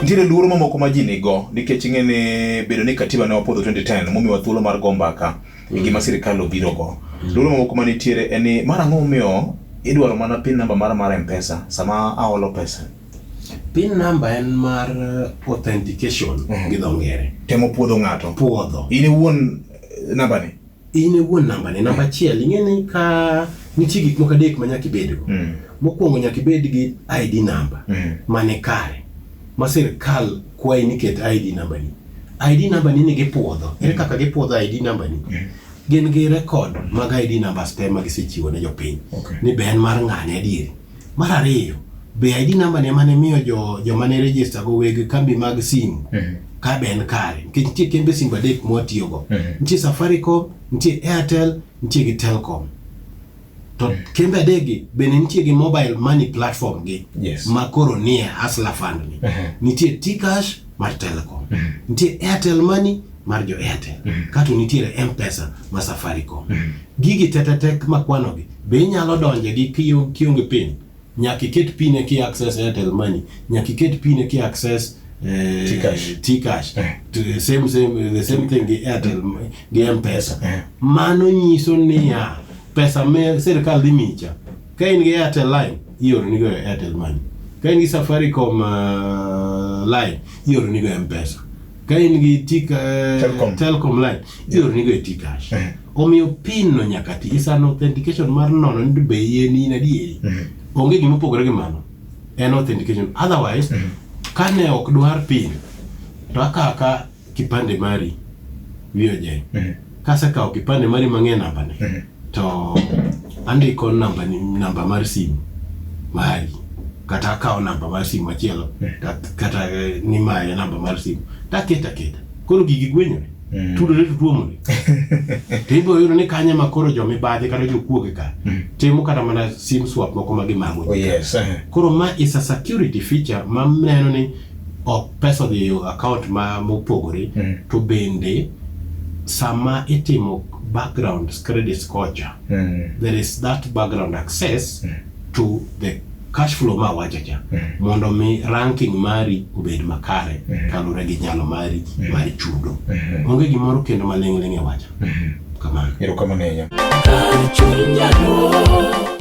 Nitiere luoro mamoko ma ji nigo nikech ing'e ni bedo ni katiba ne wapodho 2010 momiwa thuolo mar go mbaka e gima sirkal obirogo. Luoro mamoko ma nitiere en ni mar ang'o momiyo idwaro mana pin namba mara mar M-Pesa sama aolo pesa. Pin namba en mar authentication gi dho ngere. Temo puodho ng'ato. Puodho. In iwuon eh, nambani. in e wuon namba ne namba achiel ing'e ni ka nitie gik moko adek ma nyaka ibedgo mm. mokwongo nyaka ibed gi id namba mm. mane kare ma sirkal kwayi ni ket id namba ni id namba ni ni gipuodho ere mm. kaka gipuodho id namba ni mm. gin gi rekod mag id namba ste ma gisechiwo ne jopiny okay. ni be en mar ng'ane adieri Mar ariyo, be ID namba ne mane miyo jo joma ne register go weg kambi mag simu Mhm. ka be en kare nikech nitie kembe simba adek mwatiyogo Mhm. nitie safaricom nitie airtel nitie gi telcom to kembe adegi bende nitie gi mobile money platform gi Yes. ma koro nie hasla fund ni Mhm. nitie tcash mar telecom nitie airtel money mar jo airtel kato nitiere mpesa ma safaricom gigi tetetek makwanogi Be inyalo donje gi kionge pin? Nyaka iket pin eki access Airtel Money. Nyaka iket pin eki access eh, T-Cash. T-Cash. Eh. To the same same the same thing gi Airtel m- gi M-Pesa. Eh. Mano nyiso niya pesa me sirkal dhi micha. Ka in gi Airtel line ioro nigo e Airtel Money. Ka in gi Safaricom uh, line ioro nigo e M-Pesa. ka in gi tika, eh, Telcom. telcom line ioronigo e tikash Eh. omiyo pin no nyaka ti is an authentication mar nono ni be yie ni in adieri onge gima opogore gi mano en authentication otherwise kane ok dwar pin to akaka kipande mari wiyo jeny Mhm. kasekawo kipande mari mang'e nambane Mhm. to andiko nambani namba mar simu mari kata akawo namba mar simu machielo Mhm. kat- kata eh, ni maye namba mar simu taketa keta koro gigi gwenyore Mhm. tudore to tuomore to ibiro yudo ni kanye ma koro jomibadhi kata jokuoge ka Mhm. timo kata mana sim swap moko ma gimago Oh, yes. Uh-huh. koro ma is a security feature ma neno ni ok pesa odhi e account ma mopogore mm. to bende sama itimo background credit kocha mm. there is that background access mm. to the cash flow ma wacha cha mm. mondo mi ranking mari obed makare mm. kalure gi nyalo mari mm. mari chudo mm. onge gimoro kendo maling'ling' e wacha mm. kamano erokamano ahinya